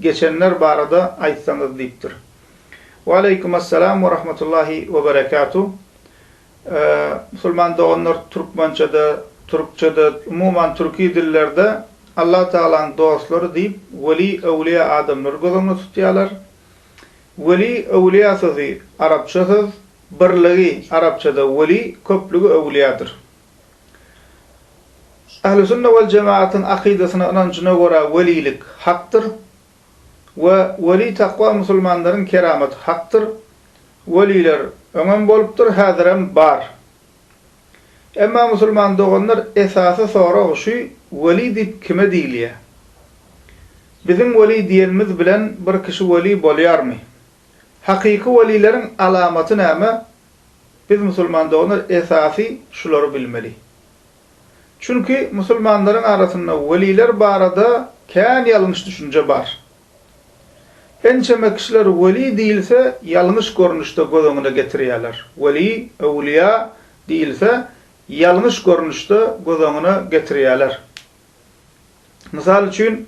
Geçenler barada aýtsaňyz diýipdir. Waleýkum Assalam we Rahmatullahi we Berekatuh. Musulman doganlar türkmençede, türkçede, umuman türki dillerde Allah Tagalaň dostlary diýip weli, öwliýa adamlary göz öňünde tutýarlar. Weli, öwliýa sözi arapça söz, birligi, arapçada weli, köplügi öwliýadyr. Ählüsünne wal jematyň akydasyna, ynanjyna görä welilik hakdyr we weli takwa musulmanlaryň keramaty hakdyr. Weliler öňem bolupdyr, häzirem bar. Emma musulman doganlar esasy sorag şu weli diýip kime diýilýär? Biziň weli diýenimiz bilen bir kişi weli bolýarmy? Hakyky welileriň alamaty näme? Biz musulman doganlar esasy şulary bilmeli. Çünki musulmanlaryň arasynda weliler barada kän ýalňyş düşünje bar. Ençeme kişiler weli diýilse ýalňyş görnüşde göz öňüne getirýärler. Weli, öwlüýa, diýilse ýalňyş görnüşde göz öňüne getirýärler. Mysal üçin,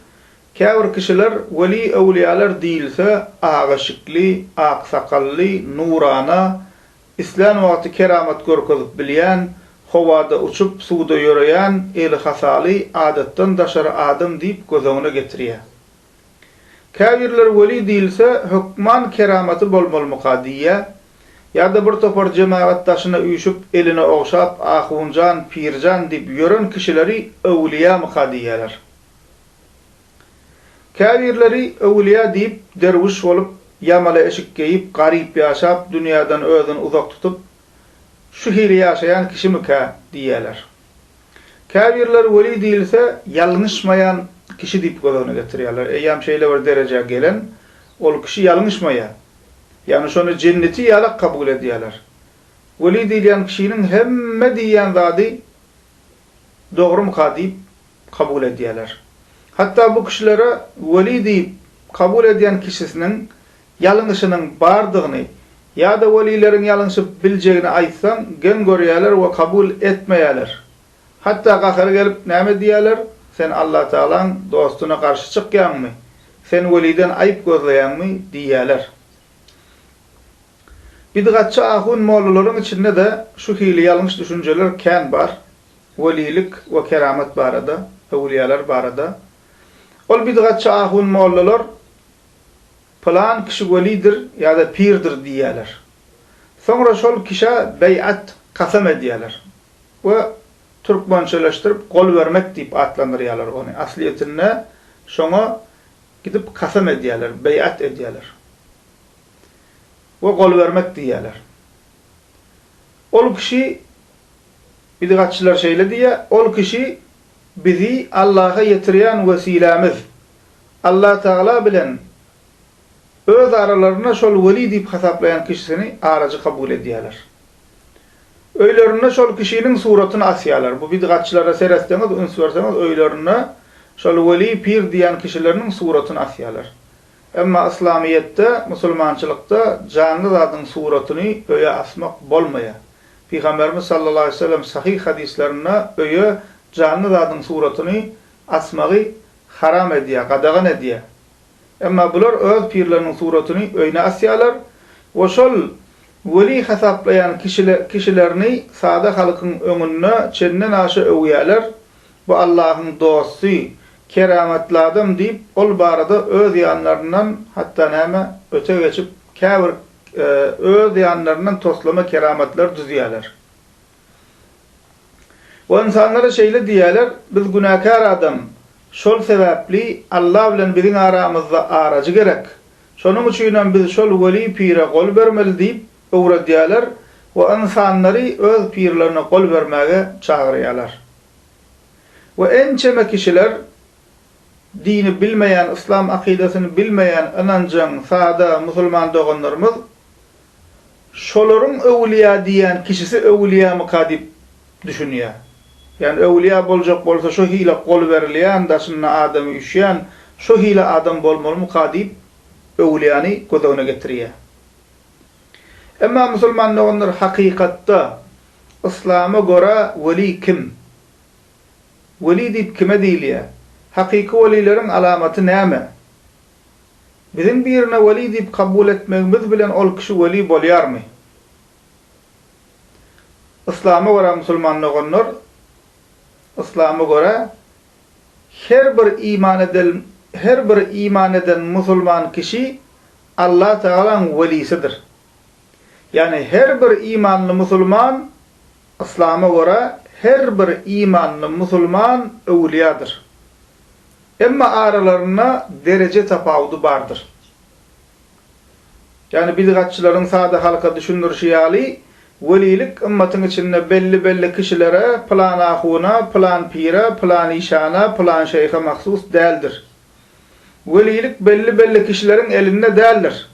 käbir kişiler weli-öwlüýäler diýilse, aga şikli, ak sakally, nurana, islän wagty keramat görkezip bilýän, howada uçup, suwda ýöreýän, eli hasaly, adatdan daşary adam diýip göz öňüne getirýär. Käbirleri weli diýilse, hökman keramaty bolmalymyka diýýä, ýa-da bir topar jemagat daşyna üýşüp, eline ogşap, ahunjan, pirjan diýip ýören kişileri öwülýämyka diýýäler. Käbirleri öwülýä diýip, derwüş bolup, ýamala eşik geýip, garyp ýaşap, dünýäden özüni uzak tutup, şu hili ýaşaýan kişimikä diýýäler. Käbirleri weli diýilse, ýalňyşmaýan kişi diýip göz öňüne getirýärler. Eýýäm şeýle bir derejä gelen, ol kişi ýalňyşmaýar. Ýagny şony jenneti ýalak kabul edýärler. Weli diýilýän kişiniň hemme diýýän zady dogrumyka diýip kabul edýärler. Hatda bu kişilere weli diýip kabul edýän kişisiniň ýalňyşynyň bardygyny ýa-da welileriň ýalňyşyp biljegini aýtsaň, geň görýärler we kabul etmeýärler. Hatda gahary gelip näme diýýärler, Sen Allatagalaň dostuna garşy çykýaňmy? Sen weliden aýyp gözleýäňmi? diýýärler. Bidgatçy ahun mollalaryň içinde-de şu hili ýalňyş düşünjeler kän bar, welilik we keramat barada, öwülýäler barada. Ol bidgatçy ahun mollalar Pylan kişi welidir ýa-da pirdir diýýärler. Soňra şol kişä beýat, kasam edýärler we türkmençeleşdirip gol bermek diýip atlandyrýarlar ony. Aslyýetinde şoňa gidip kasam edýärler, beýat edýärler we gol bermek diýýärler. Ol kişi, bidgatçylar şeýle diýýär, ol kişi bizi Allaha ýetirýän wesilämiz, Allatagala bilen öz aralarynda şol weli diýip hasaplaýan kişisini arajy kabul edýärler. Öýlerinde şol kişiniň suratyny asýarlar. Bu bidgatçylara seretseňiz, üns berseňiz, öýlerinde şol weli, pir diýýän kişileriniň suratyny asýarlar. Emma yslamyýetde, musulmançylykda janly zadyň suratyny öýe asmak bolmaýar. Pygamberimiz sallallahu aleýhi we sellem sahyh hadyslarynda öýe janly zadyň suratyny asmagy haram edýär, gadagan edýär. Emma bular öz pirleriniň suratyny öýüne asýarlar we şol weli hasaplaýan kişilerini sada halkyň öňünde çendenaşa öwýärler, Bu Allahyň dosty, keramatly adam diýip, ol barada öz ýanlaryndan hatda näme, öte geçip, käbir öz ýanlaryndan toslama keramatlary düzýärler. Ol ynsanlara şeýle diýerler, Biz günäkär adam, şol sebäpli Alla bilen biziň aramyzda arajy gerek. Şonuň üçinem biz şol weli pire gol bermeli diýip öwredýärler we ynsanlary öz pirlerine gol bermäge çagyrýarlar. We ençeme kişiler dini bilmeýän, yslam akydasyny bilmeýän ynanjaň sada musulman doganlarymyz Şolaryň öwülýä diýýän kişisi öwülýämyka diýip düşünýär. Ýani öwülýä boljak bolsa şo hile gol berilýän, daşynda adamy üşýän şo hile adam bolmalymyka diýip öwülýäni göz öňüne getirýär. Emma musulman doganlar hakykatda Yslama görä weli kim? Weli diýip kime diýilýär? Hakyky welileriň alamaty näme? Biziň birine weli diýip kabul etmegimiz bilen ol kişi weli bolýarmy? Yslama görä musulman doganlar, Yslama görä her bir iman eden her bir iman eden musulman kişi Alla Tagalaň welisidir. Ýagny her bir imanly musulman, Yslama görä her bir imanly musulman öwülýadyr. Emma aralarynda dereje tapawudy bardyr. Ýagny bidgatçylaryň sada halka düşündirişi ýaly, welilik ymmatyň içinde belli-belli kişilere, pylan ahuna, pylan pire, pylan işana, pylan şeýhe mahsus däldir. Welilik belli-belli kişileriň elinde däldir.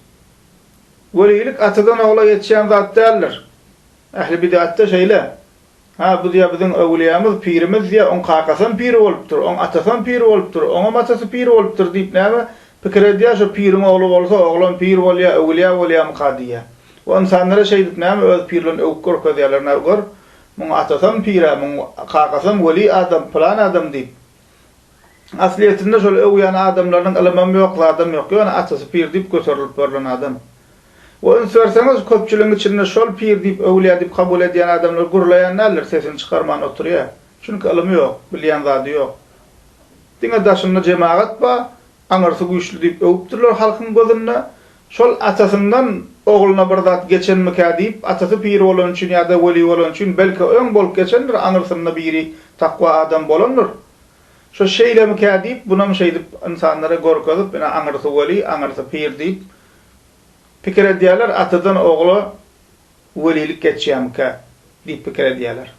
Welilik atadan ogla geçýän zat däldir. Ähli bid'atda şeýle. Hä, bu diýýär biziň öwlüýämiz, pirimiz diýýär, oň kakasam pir bolupdyr, oň atasam pir bolupdyr, oňam atasy pir bolupdyr diýip näme pikir edýär, şo piriň ogly bolsa, oglam pir bolýar, öwlüýä bolýarmyka diýýär. Bu ynsanlara şeýdip näme öz pirlerini öwüp görkezýärler, nä gör, muň atasam pir-ä, muň kakasam weli adam, pylan adam diýip. Aslyýetinde şol öwýän adamlarynyň ylymam ýok, zadam ýok. Ýöne atasy pir diýip göterilip görlen adam. We üns berseňiz, köpçüligiň içinde şol pir diýip, öwlýä diýip kabul edýän adamlar gürleýän däldir, sesini çykarman oturýar. Çünki ylymy ýok, bilýän zady ýok. Diňe daşynda jemagat bar, aňyrsy güýçli diýip öwüpdirler halkyň gözünde. Şol atasyndan ogluna bir zat geçenmikä diýip, atasy pir bolany üçin ýa-da weli bolany üçin, belki, öň bolup geçendir, aňyrsynda biri takwa adam bolandyr. Şo şeýlemikä diýip, bunam şeýdip ynsanlara görkezip, ine, aňyrsy weli, aňyrsy pir diýip, pikir edýärler, atadan ogla welilik geçýärmikä diýip pikir edýärler.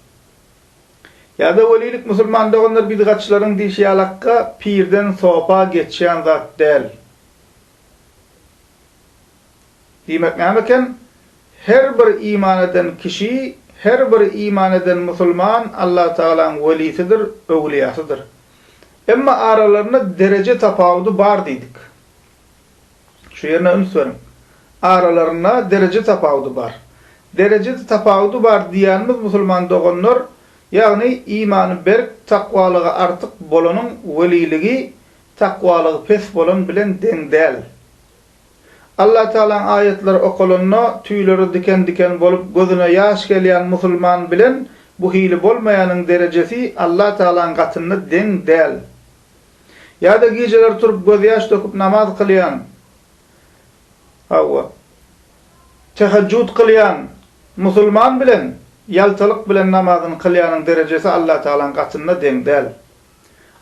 Ýa-da welilik musulman doganlar bidgatçylaryň diýşi ýalakka pirden sopa geçýän zat däl. Diýmek näme eken? Her bir iman eden kişi, her bir iman eden musulman Allatagalaň welisidir, öwlüýasydyr. Emma aralarynda dereje tapawudy bar diýdik. Şu ýerine üns beriň. Aralarynda dereje tapawudy bar. Dereje tapawudy bar diýýänimiz musulman doganlar, ýagny imany berk, takwalygy artyk bolanyň weliligi takwalygy pes bolan bilen deň däl. Allatagalaň aýatlary okalanda tüýleri diken-diken bolup gözüne ýaş gelýän musulman bilen bu hili bolmaýanyň derejesi Allatagalaň gatynda deň däl. Ýa-da gijeler turup gözýaş döküp namaz kylýan, hawa, tehejjut kylýan musulman bilen ýaltalyk bilen namazyny kylýanyň derejesi Allatagalaň gatynda deň däl.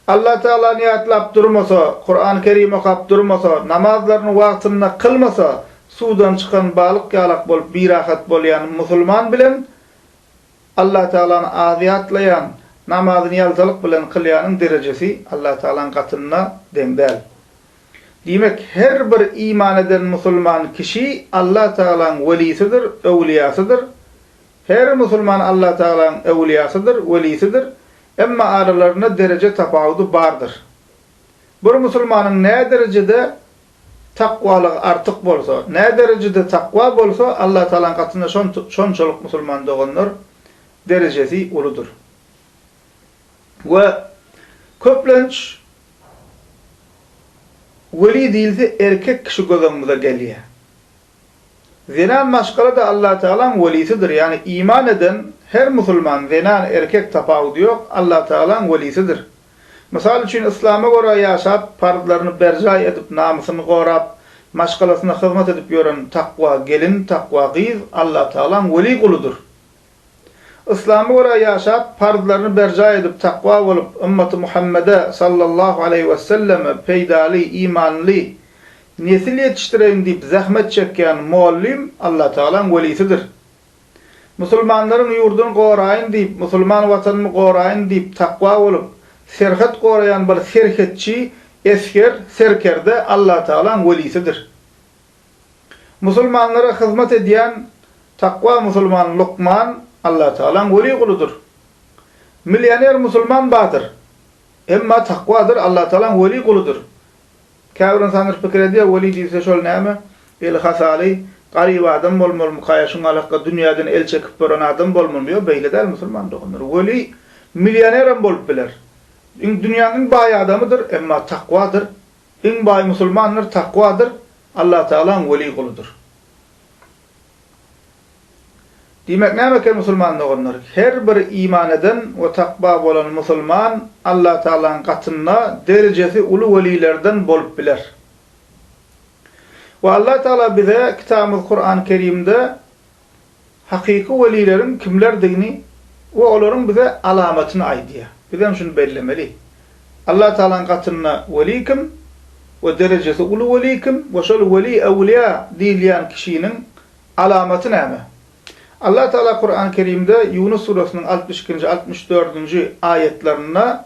Allatagalany ýatlap durmasa, Kuran Kerim okap durmasa, namazlaryny wagtynda kylmasa, suwdan çykan balyk ýalak bolup birahat bolýan musulman bilen Allatagalany az ýatlaýan, namazyny ýaltalyk bilen kylýanyň derejesi Allatagalaň gatynda deň däl. Diýmek, her bir iman eden musulman kişi Allatagalaň welisidir, öwliýasydyr. Her musulman Allatagalaň öwliýasydyr, welisidir. Emma aralarynda dereje tapawudy bardyr. Bir musulmanyň näderejede takwalygy artyk bolsa, näderejede takwa bolsa, Allatagalaň gatynda şonçalyk musulman doganlar derejesi uludyr. We köplenç weli diýilse erkek kişi göz öňümize gelýär. Zenan maşgala-da Allatagalaň welisidir, ýagny iman eden her musulman, zenan, erkek tapawudy ýok, Allatagalaň welisidir. Mysal üçin, yslama görä ýaşap, parzlaryny berjaý edip, namysyny gorap, maşgalasyna hyzmat edip ýören takwa gelin, takwa gyz Allatagalaň weli guludyr. Yslama görä ýaşap, parzlaryny berjaý edip, takwa bolup, ymmaty Muhammede, sallallahu aleýhi wesselleme, peýdaly, imanly nesil ýetişdireýin diýip zähmet çekýän mugallym Allatagalaň welisidir. Musulmanlaryň ýurduny goraýyn diýip, musulman watanymy goraýyn diýip takwa bolup, serhet goraýan bir serhetçi, esger, serkerde Allatagalaň welisidir. Musulmanlara hyzmat edýän takwa musulman lukman Allatagalaň weli guludyr. Millioner musulman badyr. Emma takwadyr Allatagalaň weli guludyr. Käbir ynsanlar pikir edýär, weli diýilse şol näme, eli hasaly, garyp adam bolmalymykaýa, şuňa alakga dünýäden el çekip duran adam bolmalymy? Ýok, beýle däl musulman doganlar. Weli millionerem bolup biler. Iň dünýäniň iň baý adamydyr, emma takwadyr Iň baý musulmanlar takwadyr, Allatagalaň weli guludyr. Diýmek näme eken musulman doganlar? Her bir iman eden we takwa bolan musulman Allatagalaň gatynda derejesi uly welilerden bolup biler. We Allatagala bize Kitabymyz Kuran Kerimde, Hakyky welileriň kimlerdigini we olaryň bize alamatyny aýdýar. Bizem şuny bellemeli. Allatagalaň gatynda weli kim we derejesi uly weli kim we şol weli äwliýa diýilýän kişiniň alamaty näme? Allatagala Kurany Kerimde Ýunus surasynyň altmyş ikinji, altmyş dördünji aýatlarynda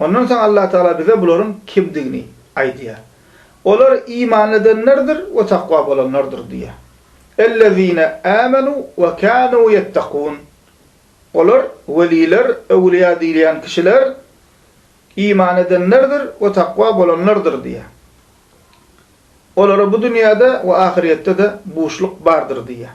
Ondan soň Allatagala bize bularyň kimdigini aýdýar. Olar iman edenlerdir we takwa bolanlardyr diýýär. Ellezine âmenû ve kânû yettekûn. Olar, weliler, öwlüýa diýilýän kişiler, iman edenlerdir we takwa bolanlardyr diýýär. Olara bu dünýäde we ahyrýetde-de buşluk bardyr diýýär.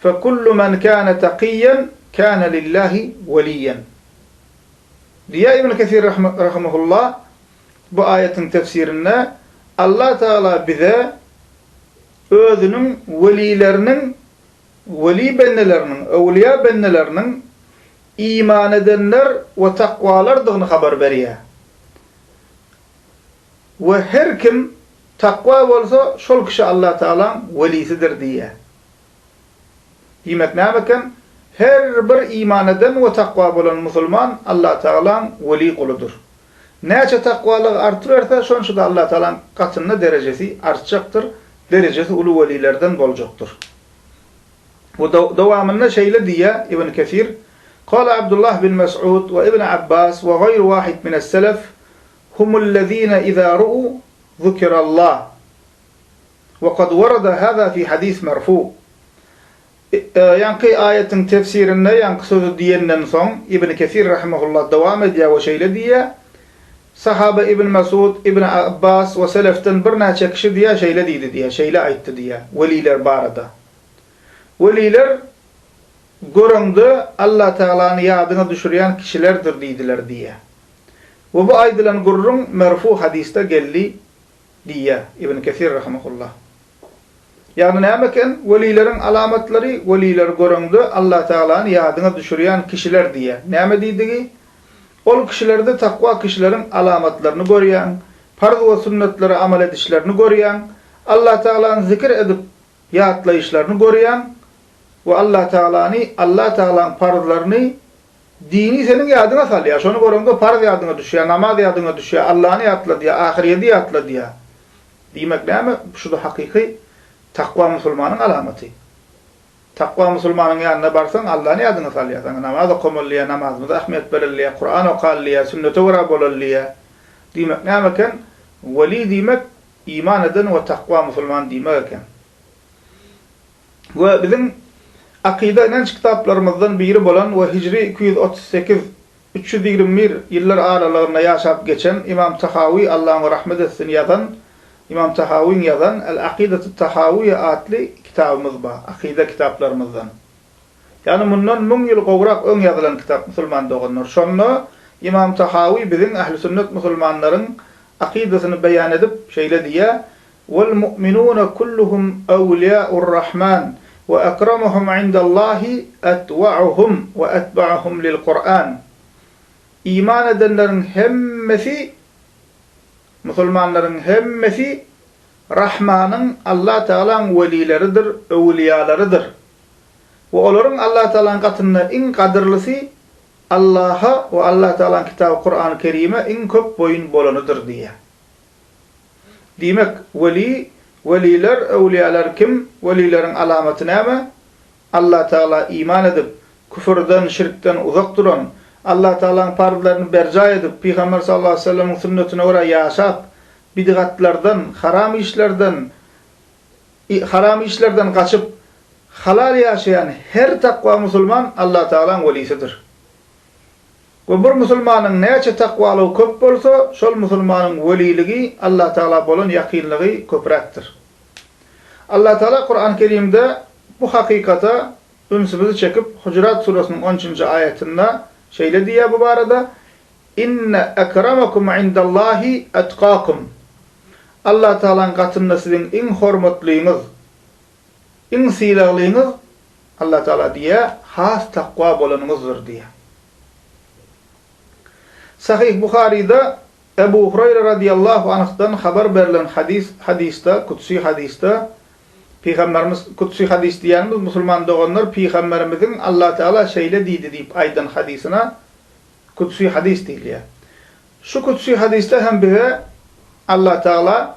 Fekullu men kâne takiyyen kâne lillâhi veliyyen. Diýýär Ibn Kesir rahimehullah bu aýatyň tefsirinde, Allah Tagala bize Özüniň welileriniň, weli bendeleriniň, öwlüýa bendeleriniň iman edenler we takwalardygyny habar berýär. We her kim takwa bolsa, şol kişi Allah Tagalaň welisidir diýýär. Diýmek näme eken? Her bir iman eden we takwa bolan musulman Allatagalaň weli guludyr. Näçe takwalygy artyberse, şonça-da Allatagalaň gatynda derejesi artjakdyr, derejesi uly welilerden boljakdyr. We dowamynda şeýle diýýär, Ibn Kesir, Kâle Abdullah bin Mes'ûd we Ibn Abbas we gaýru wahid mines-selef, Humullezîne izâ ru'û zukirallah. Wa kad warada hada fi hadis merfu. Ýaňky aýatyň tefsirinde ýaňky sözi diýenden soň, Ibn Kesir rahimehullah dowam edýär we şeýle diýýär, Sahaba Ibn Mesud, Ibn Abbas we selefden birnäçe kişi diýýär şeýle diýdi diýýär, şeýle aýtdy diýýär, weliler barada. Weliler göreňde Alla Tagalany ýadyňa düşürýän kişilerdir diýdiler diýýär. We bu aýdylan gürrüň merfu hadisde geldi diýýär Ibn Kesir rahimehullah. Ýagny näme eken? Welileriň alamatlary, welileri göreňde Allatagalany ýadyňa düşürýän kişiler diýýär. Näme diýdigi? Ol kişilerde takwa kişileriň alamatlaryny görýäň, parz we sünnetlere amal edişlerini görýäň, Allatagalany zikir edip ýatlaýyşlaryny görýäň we Allatagalany, Allatagalaň parzlaryny Dini seniň ýadyňa salýar. Şony göreňde parz ýadyňa düşýär, namaz ýadyňa düşýär, Allany ýatladýar, ahyrýedi ýatladýar. Diýmek näme? Şu-da hakyky takwa musulmanyň alamaty. Takwa musulmanyň ýanyna barsaň, Allany ýadyňa salýar. Saňa namaz okamaly diýýär, namazymyza ähmiýet bereli diýýär, Kuran okaly diýýär, sünnete görä bolaly diýýär. Diýmek näme eken? Weli diýmek, iman eden we takwa musulman diýmek eken. we biziň akyda-ynanç kitaplarymyzdan biri bolan we hijri iki ýüz otuz sekiz, üç ýüz ýigrimi bir ýyllar aralygynda ýaşap geçen Ymam Tahawy, Alla oňa rahmet etsin, ýazan, Ymam Tahawyň ýazan, El-Aqidatut-Tahawyýýe atly kitabymyz bar, akyda kitaplarymyzdan. Ýagny mundan müň ýyl gowrak öň ýazylan kitap, musulman doganlar. Şonda Ymam Tahawy biziň ähli sünnet musulmanlaryň akydasyny beýan edip, şeýle diýýär, Wal mu'minuna kulluhum awliýa'ur rahman we akramuhum indallâhi atwa'uhum we atba'uhum lil Kur'an. Iman edenleriň hemmesi, musulmanlaryň hemmesi, Rahmanyň, Allah Tagalaň, welileridir, öwlüýalarydyr. We olaryň Allah Tagalaň gatynda iň gadyrlysy Allaha we Allah Tagalaň kitaby Kur'an-Kerime iň köp boýun bolanydyr diýýär. Diýmek, weli, weliler, öwliýalar kim, welileriň alamaty näme? Allatagala iman edip, küfürden, şirkden uzak duran, Allatagalaň parzlaryny berjaý edip, Pygamber sallallahu aleýhi we sellemiň sünnetine görä ýaşap, bidgatlardan, haram işlerden, haram işlerden gaçyp, halal ýaşaýan her takwa musulman Allatagalaň welisidir. We bir musulmanyň näçe takwalygy köp bolsa, şol musulmanyň weliligi, Allatagala bolan ýakynlygy köpräkdir. Allatagala Kurany Kerimde bu hakykata ünsümizi çekip, Hujurat surasynyň on üçünji aýatynda şeýle diýýär bu barada, Inne ekramakum indallahi etkakum. Allatagalaň gatynda siziň iň hormatlyňyz, Iň sylaglyňyz, Allah Tagala diýýär, has takwa bolanyňyzdyr diýýär. Sahyh Buharyda Ebu Hureýre radyýallahu anhdan habar berlen hadys, hadysda, kudsy hadysda, Pygamberimiz, kudsy hadys diýýänimiz, musulman doganlar, Pygamberimiziň Allah Tagala şeýle diýdi diýip aýdan hadysyna kudsy hadys diýilýär. Şu kudsy hadysda hem bize Allah Tagala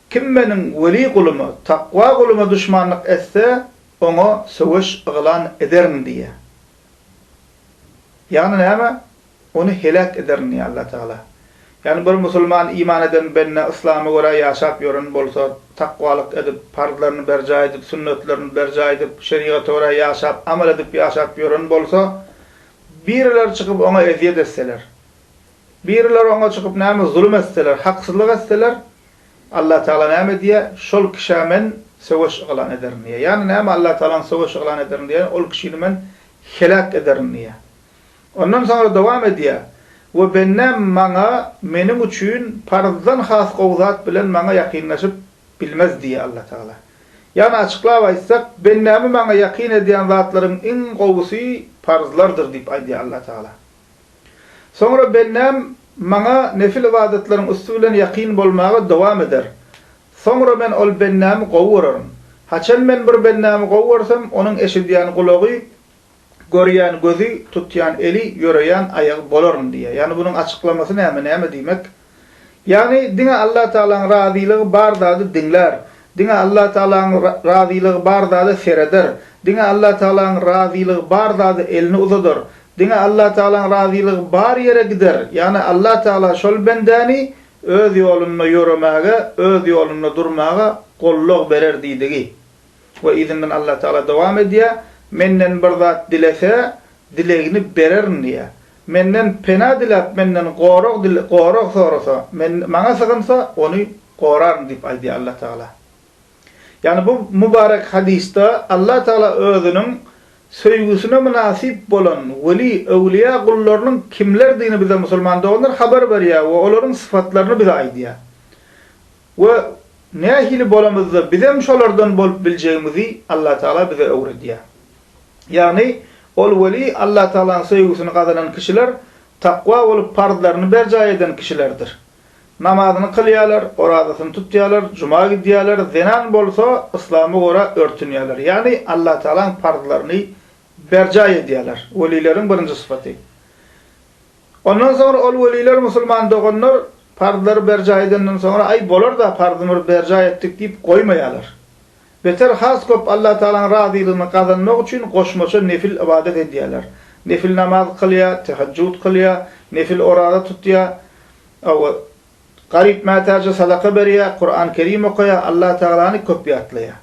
Kim Meniň weli guluma, takwa guluma duşmanlyk etse, oňa söweş yglan ederin diýýär. Ýagny näme? Ony heläk ederin diýýär Allah Tagala. Ýagny bir musulman, iman eden bende yslama görä ýaşap ýören bolsa, takwalyk edip, parzlaryny berjaý edip, sünnetlerini berjaý edip, şerigata görä ýaşap, amal edip ýaşap ýören bolsa, birileri çykyp oňa ezýet etseler, Biriler oňa çykyp näme zulum etseler, haksyzlyk etseler, Allatagala näme diýýär, Şol kişä Men söweş yglan ederin diýýär. Ýagny näme Allatagalaň söweş yglan ederin diýeni, ol kişini Men heläk ederin diýýär. Ondan soňra dowam edýär, We bendäm Maňa, Meniň üçin, parzdan has gowy zat bilen Maňa ýakynlaşyp bilmez diýýär Allatagala. Ýagny açyklap aýtsak, bendämi Maňa ýakyn edýän zatlaryň iň gowusy parzlardyr diýip aýdýar Allatagala. Soňra bendäm Maňa nefil ybadatlaryň üsti bilen ýakyn bolmaga dowam eder. Soňra Men ol bendämi gowy görerm. Haçan Men bir bendämi gowy görsem, onuň eşidýän gulagy, görýän gözi, tutýan eli, ýöreýän aýagy bolaryn diýýär. Ýagny bunuň açyklamasy näme, näme diýmek? Ýagny diňe Allatagalaň razylygy bar zady diňlär, diňe Allatagalaň razylygy bar zada sereder, diňe Allatagalaň razylygy bar zada elini uzadar, diňe Allatagalaň razylygy bar ýere gider, ýagny Allatagala şol bendäni Öz ýolunda ýöremäge, Öz ýolunda durmaga gollag berer diýdigi. we yzyndan Allatagala dowam edýär, Menden bir zat dilese, dilegini bererin diýýär. Menden pena diläp, menden gorag gorag sorasa, Men, Maňa sygynsa, ony goraryn diýip aýdýar Allatagala. Ýagny bu mübarek hadysda Allatagala özüniň söýgüsine mynasyp bolan weli, öwlüýä gullarynyň kimlerdigini bize musulman doganlar habar berýär we olaryň sypatlaryny bize aýdýar. We nähili bolamyzda bizem şolardan bolup biljegimizi Allatagala bize öwredýär. Ýagny, ol weli Allatagalaň söýgüsini gazanan kişiler takwa bolup parzlaryny berjaý eden kişilerdir. Namazyny kylýarlar, orazasyny tutýarlar, juma gidýärler, zenan bolsa yslama görä örtünýärler. Ýagny, Allatagalaň parzlaryny berjaý edýärler. Welileriň birinji sypaty. Ondan soňra ol weliler, Musulman doganlar parzlary berjaý edenden soňra, Aý, bolar-da, parzymyzy berjaý etdik diýip goýmaýarlar. Beter, has köp Allatagalaň razylygyny gazanmak üçin goşmaça nefil ybadat edýärler. Nefil namaz kylýar, tehejjut kylýar, nefil oraza tutýar, hawa, garyp-mätäje sadaka berýär, Kuran-Kerim okaýar, Allatagalany köp ýatlaýar.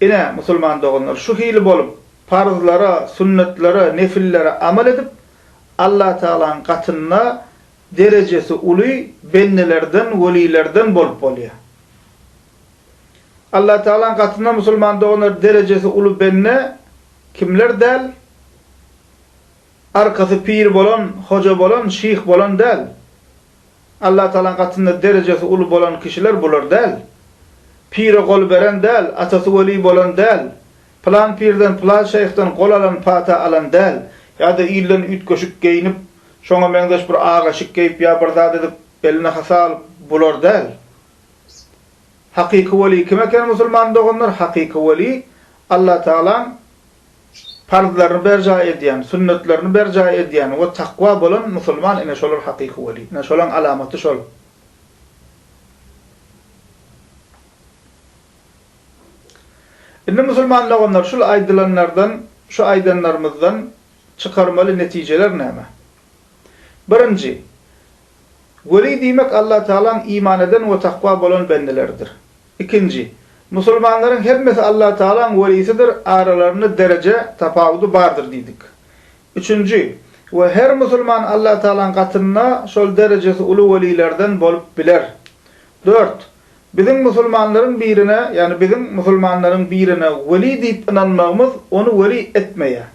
Ine, musulman doganlar, şu hili bolup, parzlara, sünnetlere, nefillere amal edip, Allatagalaň gatynda derejesi uly bendelerden, welilerden bolup bolýar. Allatagalaň gatynda musulman doganlar derejesi uly bende kimler däl? Arkasy pir bolan, hoja bolan, şyh bolan däl. Allatagalaň gatynda derejesi uly bolan kişiler bular däl. Pire gol beren däl, atasy weli bolan däl, Pylan pirden, pylan şeýhden gol alan pata alan däl, ýa-da ilden üýtgeşik geýnip, şoňa meňzeş bir ak eşik geýip ýa bir zat edip, eline hasa alyp, bular däl. Hakyky weli kim eken musulman doganlar? Hakyky weli, Allatagalaň parzlaryny berjaý edýän, sünnetlerini berjaý edýän we takwa bolan musulman ine şolar hakyky weli. Ine şolaň alamaty şol. Indi musulman doganlar şul aýdylanlardan, şu aýdanlarymyzdan çykarmaly netijeler näme? Birinji, Weli diýmek Allatagalaň iman eden we takwa bolan bendeleridir. Ikinji, Musulmanlaryň hemmesi Allatagalaň welisidir, aralarynda dereje tapawudy bardyr diýdik. Üçünji, We her musulman Allatagalaň gatynda şol derejesi uly welilerden bolup biler. Dört, Biziň musulmanlaryň birine, ýagny biziň musulmanlaryň birine weli diýip ynanmagymyz ony weli etmeýär.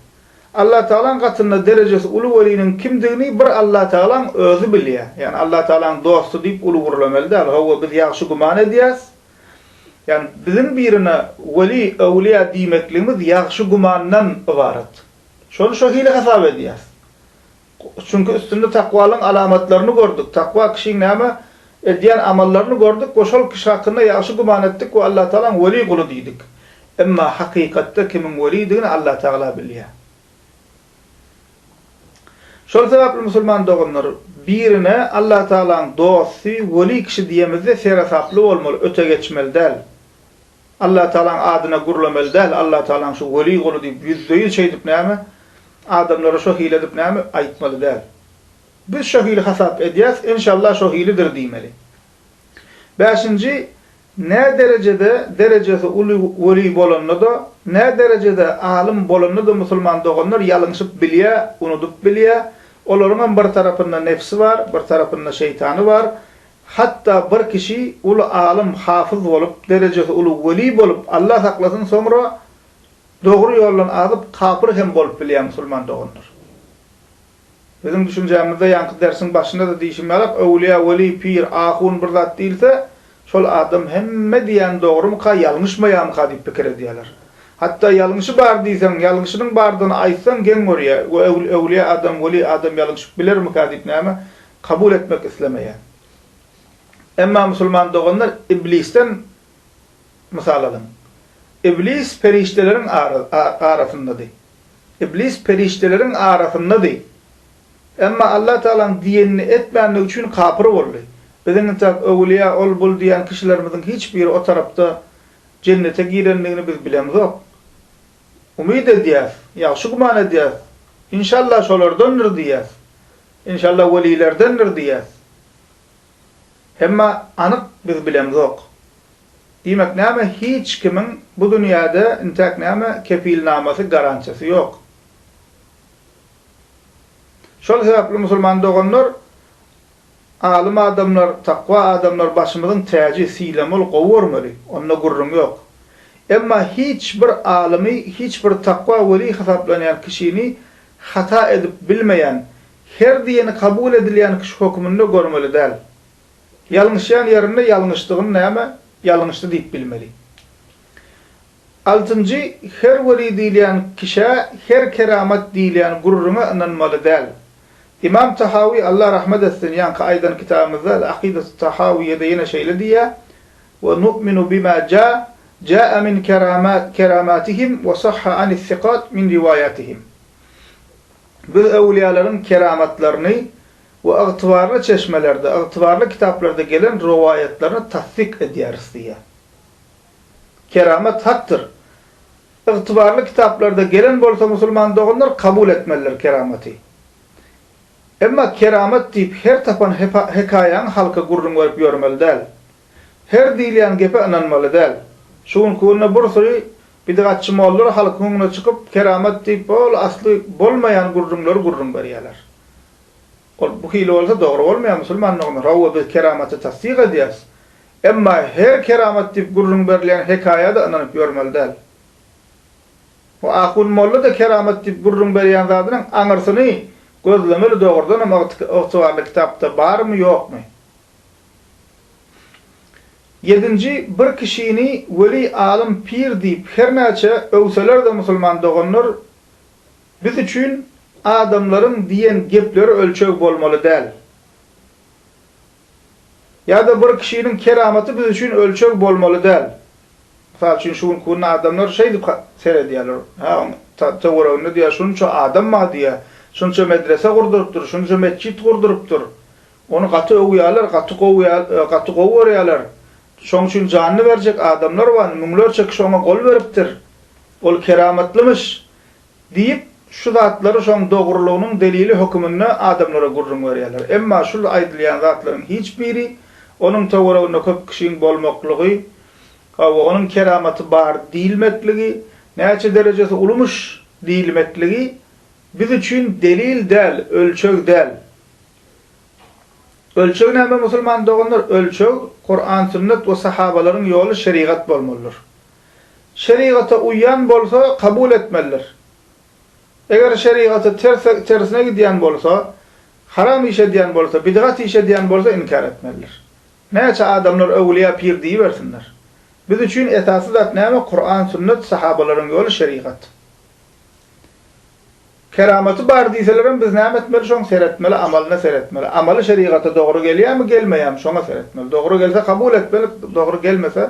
Allatagalaň gatynda derejesi uly weliniň kimdigini bir Allatagalaň özi bilýär. Ýagny Allatagalaň dosty diýip uly gürlemeli däl. Hawa, biz ýagşy güman edýäs. Ýagny biziň birine weli, öwlýa diýmekligimiz ýagşy gümandan ybarat. Şony şo hili hasap edýäs. Çünki üstünde takwalyň alamatlaryny gördük, takwa kişiň näme edýän amallaryny gördük we şol kişi hakynda ýagşy güman etdik we Allatagalaň weli guly diýdik. Emma hakykatda kimiň welidigini Allatagala bilýär. Şol sebäpli musulman doganlar, birine Allatagalaň dosty, weli kişi diýemizde seresaply bolmaly, öte geçmeli däl. Allatagalaň adyna gürlemeli däl, Allatagalaň şu weli guly diýip ýüzde-ýüz şeýdip näme, adamlara şo hili edip näme aýtmaly däl. Biz şo hili hasap edýäs, enşalla şo hilidir diýmeli. Bäşinji, nä derejede derejesi uly weli bolanda-da, nä derejede alym bolanda-da musulman doganlar ýalňyşyp bilýä, unudyp bilýä, olaryňam bir tarapynda nebsi bar, bir tarapynda şeýtany bar, Hatda bir kişi uly alym, hafyz bolup, derejesi uly weli bolup, Allah saklasyn, soňra dogry ýoldan azyp, kapyr hem bolup bilýär musulman doganlar. Biziň düşünjämizde ýaňky dersiň başynda-da diýşim ýalak, öwlüýä, weli, pir, ahun bir zat diýilse, şol adam hemme diýýäni dogrumyka, ýalňyşmaýamyka diýip pikir edýärler. Hatda ýalňyşy bar diýseň, ýalňyşynyň bardygyny aýtsaň geň görýär, we öwlüýä adam, weli adam ýalňyşyp bilermikä diýip näme Kabul etmek islemeýär. Emma musulman doganlar Iblisden mysal alyň. Iblis perişdeleriň arasyndady. Iblis perişdeleriň arasyndady. Emma Allah Tagalaň diýenini etmändigi üçin kapyr boldy. Biziň entäk öwülýä ol bul diýen kişilerimiziň hiç biri o tarapda jennete girendigini biz bilemzok. Umyt edýäs, ýagşy güman edýäs, inşallah şolardandyr diýýäs. Inşallah welilerdendir diýýäs. Emma anyk biz bilemzok. Diýmek näme hiç kimiň bu dünýäde intäk näme kepilnamasy garantiýasy ýok. Şol sebäpli musulman doganlar alym adamlar takwa adamlar başymyzyň täji sylamaly gowy görmeli onda gürrüň ýok. Emma hiç bir alymy hiç bir takwa weli hasaplanýan kişini Hata edip bilmeýän, her diýeni kabul edilýän kişi höküminde görmeli däl. Ýalňyşýan ýerinde ýalňyşdygyny näme, ýalňyşdy diýip bilmeli. Altynjy, her weli diýilýän kişä, her keramat diýilýän gürrüňe ynanmaly däl. Ymam Tahawy, Allah rahmet etsin, ýaňky aýdan kitabymyzda, Al-Akidatu Tahawyýede ýene şeýle diýýär, Wa nu'minu bima ja, ja'a min kerama, keramatihim wa sahha anis siqat min riwayatihim. Biz öwlüýalaryň keramatlaryny we ygtybarly çeşmelerde, ygtybarly kitaplarda gelen rowaýatlaryny tassyk edýäris diýýär. Keramat hakdyr. Ygtybarly kitaplarda gelen bolsa musulman doganlar kabul etmelidir keramaty. Emma keramat diýip her tapan hekaýaňy halka gürrüň berip ýörmeli däl. Her diýilýän gepe ynanmaly däl. Şu günki günde bir süri bidgatçy mollar halkyň öňüne çykyp keramat diýip bol asly bolmaýan gürrüňleri gürrüň berýärler. Ol bu hili bolsa dogry bolmaýar musulman dogany. Hawa biz keramaty tassyk edýäris. Emma her keramat diýip gürrüň berilýän hekaýada ynanyp ýörmeli däl. Bu ahun molla-da keramat diýip gürrüň berýän zadynyň aňyrsyny gözlemeli dogrudanam ygtybarly kitapda barmy ýokmy? Ýedinji bir kişini weli alym pir diýip her näçe öwseler-de musulman doganlar biz üçin adamlaryň diýen gepleri ölçeg bolmaly däl. Ýa-da bir kişiniň keramaty biz üçin ölçeg bolmaly däl. Mysal üçin, şu günki günde adamlar şeýdip seredýärler, Hä, onuň töwereginde diýýär, şunça adam bar diýýär, şunça medrese gurdurypdyr, şunça metjit gurdurypdyr. Ony gaty öwýärler, gaty gowy gaty gowy görýärler. Şoň üçin janyny berjek adamlar bar, müňlerçe kişi oňa gol beripdir. Ol keramatlymyş. Diýip, şu zatlary şoň dogrulygynyň delili höküminde adamlara gürrüň berýärler. Emma şul aýdylýan zatlaryň hiç biri onuň töwereginde köp kişiň bolmaklygy, hawa, onuň keramaty bar diýilmekligi, näçe derejesi ulumyş diýilmekligi biz üçin delil däl, ölçeg däl. Ölçeg näme musulman doganlar? Ölçeg, Kuran, Sünnet we sahabalaryň ýoly, şerigat bolmalydyr. şerigata uýýan bolsa kabul etmelidir. Eger şerigata tersine gidýän bolsa, haram iş edýän bolsa, bidgat iş edýän bolsa inkär etmelidir. Näçe adamlar öwlýä pir diýibersinler. Biz üçin esasy zat näme Kuran sünnet sahabalaryň ýoly şerigat. Keramaty bar diýselerem biz näme etmeli şoň seretmeli amalyna seretmeli. Amaly şerigata dogry gelýämi gelmeýämi şoňa seretmeli. Dogry gelse kabul etmeli dogry gelmese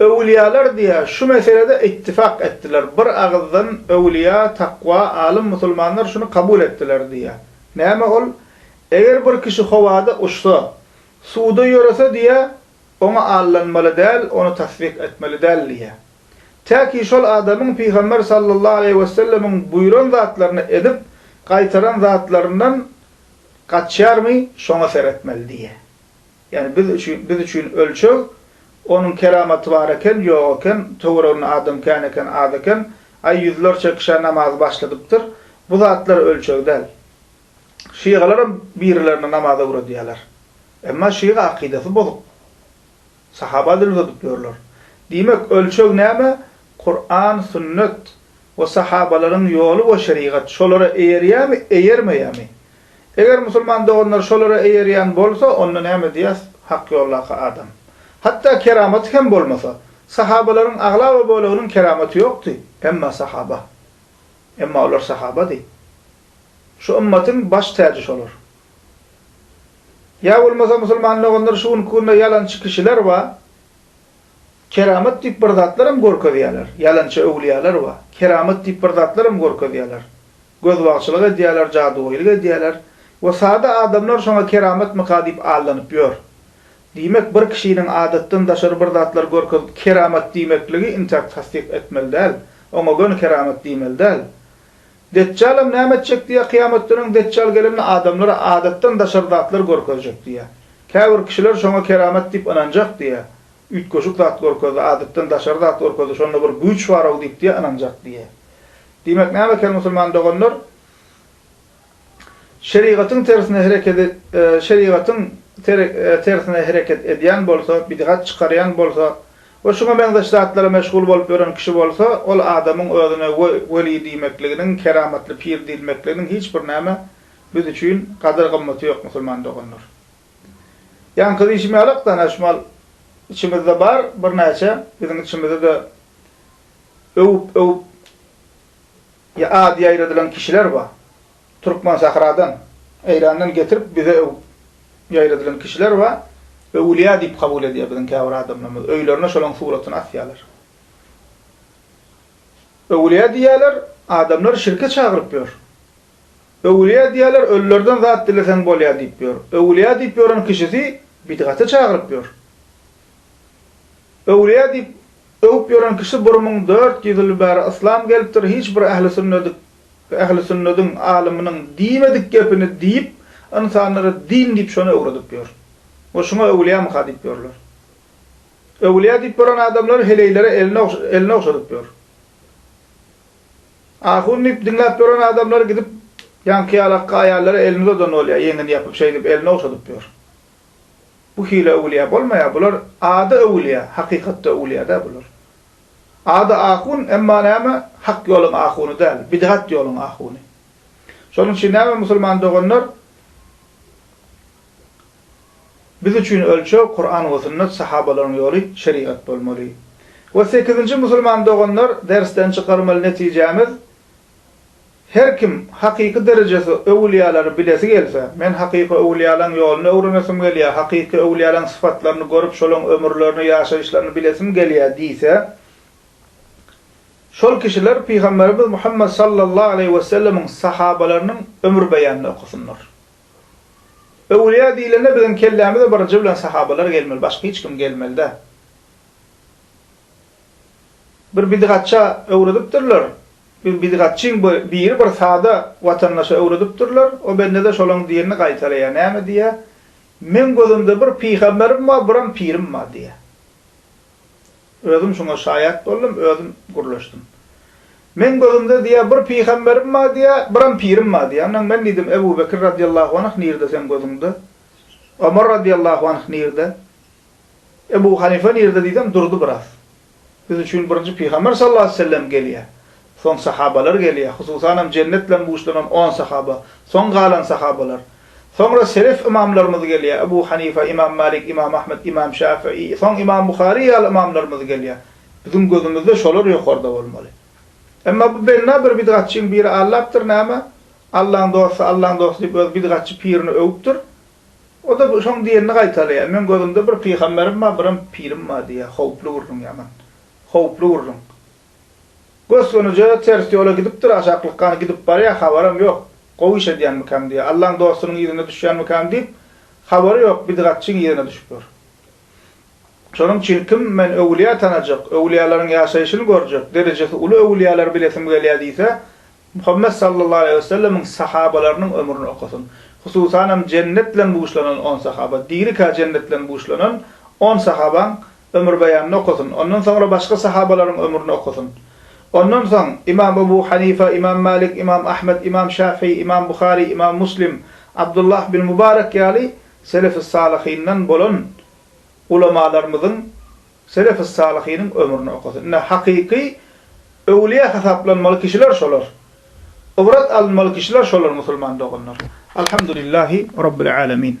Öwülýalar diýä şu meselede ittifak etdiler, bir agyzdan öwülýa, takwa, alym musulmanlar şuny kabul etdiler diýä. Näme ol? Eger bir kişi howada uçsa, suwda ýörese diýä, oňa allanmaly däl, ony tassyk etmeli däl diýä. Tä ki şol adamyň Pygamber sallallahu aleýhi wesellemiň buýran zatlaryny edip gaýtaran zatlaryndan gaçýarmy, şoňa seretmeli diýä. Ýagny biz üçin biz üçin ölçeg Onuň keramaty bar eken, ýok eken, töwereginde adam kän eken, az eken, aý ýüzlerçe kişä namazy başladypdyr. Bu zatlar ölçeg däl. Şygalaram birilerini namaz öwredýärler. Emma şyga akydasy bozuk. Sahaba dil uzadyp ýörler. Diýmek, ölçeg näme? Kuran, sünnet we sahabalaryň ýoly we şerigat şolara eýerýärmi, eýermeýärmi? Eger musulman doganlar şolara eýerýän bolsa, onda näme diýýäs, hak ýoldaky adam. Hatda keramaty hem bolmasa, sahabalaryň aglaba böleginiň keramaty ýokdy, emma sahaba. Emma olar sahabady. Şu ymmatyň baş täji şolar. Ýa bolmasa musulman doganlar şu günki günde ýalançy kişiler bar, keramat diýip bir zatlar hem görkezýärler, ýalançy öwliýalar bar, keramat diýip bir zatlar hem görkezýärler, Gözbagçylyk edýärler, jadygoýlyk edýärler we sada adamlar şoňa keramatmyka diýip aldanyp ýör. Diýmek, bir kişiniň adatdan daşary bir zatlar görkezip keramat diýmekligi intakt tassyk etmeli däl, oňa göni keramat diýmeli däl. Detjalam näme etjek diýýär, kyýamatdan öň Detjal gelende adamlara adatdan daşary zatlar görkezjek diýýär. Käbir kişiler şoňa keramat diýip ynanjak diýýär. Üýtgeşik zat görkezdi, adatdan daşary zat görkezdi, şonda bir güýç bar-ow diýip diýýär, ynanjak diýýär. Diýmek näme kel musulman doganlar? Şerigatyň tersine hereket şerigatyň tersine hereket edýän bolsa, bidgat çykarýan bolsa we şuňa meňzeş zatlara meşgul bolup ýören kişi bolsa, ol adamyň özüne weli diýmekliginiň, keramatly pir diýilmekliginiň hiç bir näme biz üçin gadyr-gymmaty ýok musulman doganlar. Ýaňky diýşmälak danaşmal içimizde bar birnäçe biziň içimizde-de öwüp öwüp ýa ady ýaýradylan kişiler bar. Türkmen sahradan, Eýrandan getirip bize öwüp ýaýradylan kişiler bar. Öwülýä diýip kabul edýär biziň käbir adamlarymyz. Öýlerine şolaň suratyny asýarlar. Öwülýä diýýärler, adamlar şirke çagyryp ýör. Öwülýä diýýärler, ölülerden zat dileseň bolýar diýip ýör. Öwülýä diýip ýören kişisi bidgata çagyryp ýör. Öwülýä diýip öwüp ýören kişi bir müň dört ýüz ýyl bäri yslam gelipdir, hiç bir ähli sünnedik ähli sünnediň alymynyň diýmedik gepini diýip ynsanlara din diýip şony öwredip ýör. We şuňa öwülýämyka diýip ýörler. Öwülýä diýip ýören adamlar heleýlere elini elini ogşadyp ýör. Ahun diýip diňläp ýören adamlary gidip ýaňky ýalakka aýallara elini uzadan bolýar, ýeňini ýapyp şeýdip elini ogşadyp ýör. Bu hile öwülýä bolmaýar, bular ady öwülýä, hakykatda öwülýä däl bular. Ady ahun, emma näme, hak ýoluň ahuny däl, bidgat ýoluň ahuny. Şonuň üçin näme musulman doganlar, Biz üçin ölçeg Kuran we Sünnet Sahabalaryň ýoly Şerigat bolmaly. We sekizinji musulman doganlar dersden çykarmaly netijämiz Her kim hakyky derejesi öwülýalary bilesi gelse, men hakyky öwülýalaň ýoluny öwrenesim gelýär, hakyky öwülýalaň syfatlaryny görüp şolaň ömürlerini ýaşaýyşlaryny bilesim gelýär diýse, şol kişiler Pygamberimiz Muhammet Sallallahu Aleýhi Wesellemiň Sahabalarynyň ömür beýanyny okasynlar. Öwlüýä diýlende biziň kellämize birinji bilen sahabalar gelmeli, başga hiç kim gelmeli däl. Bir bidgatça öwredipdirler. Bir bidgatçyň biri bir sada watandaşa öwredipdirler. O bendede şolaň diýenini gaýtalaýar. Näme diýýär? Meň gözümde bir pygamberim bar, biram pirim bar diýýär. Özüm şuňa şaýat boldum, özüm gürleşdim. Meň gözümde diýýär, bir pygamberim bar diýýär, biram pirim bar diýýär. Ondan men diýdim, Ebu Bekir radiallahu anh nirde seň gözüňde? Omar radiallahu anh nirde? Ebu Hanife nirde diýsem, durdy biraz. Biz üçin birinji pygamber sallallahu aleýhi wesellem gelýär. Soň sahabalar gelýär. Hususanam jennet bilen buşlanan on sahaba, soň galan sahabalar. Soňra selef ymamlarymyz gelýär, Ebu Hanife, Ymam Malik, Ymam Ahmet, Ymam Şafii, soň Ymam Buhari ýaly ymamlarymyz gelýär. Biziň gözümizde şolar ýokarda bolmaly. Emma bu benna bir bidgatçyň biri Allapdyr näme, Allaň dosty, Allaň dosty diýip öz bidgatçy pirini öwüpdir. O-da şoň diýenini gaýtalaýar, Meň gözümde bir pygamberim bar, birem pirim bar diýýär. Howply gürrüň, ýaman howply gürrüň. Gös-gönuja ters ýola gidipdir, aşaklykgan gidip barýar, habaram ýok. Gowy iş edýänmikäm diýýär. Allaň dostunyň yzyna düşýänmikäm diýip, habary ýok, bidgatçyň yzyna düşüp ýör. Şonuň üçin kim men öwülýä tanajak, öwülýälaryň ýaşaýşyny görjek, derejesi uly öwülýäleri bilesim gelýär diýse, Muhammet sallallahu aleýhi wesellemiň sahabalarynyň ömrüni okasyn. Hususanam jennet bilen buşlanan on sahaba, dirikä jennet bilen buşlanan on sahabaň ömürbeýanyny okasyn, ondan soňra başga sahabalaryň ömrüni okasyn. Ondan soň Ymam Ebu Hanifa, Ymam Malik, Ymam Ahmet, Ymam Şafii, Ymam Buhari, Ymam Muslim, Abdullah bin Mubarek ýaly Selefis-Salyhyndan bolan ulamalarymyzyň, Selefis-Salyhynyň ömrüni okasyn. Ine, hakyky öwlüýä hasaplanmaly kişiler şolar. Ybrat alynmaly kişiler şolar musulman doganlar. Alhamdulillahi Rabbil Alemin.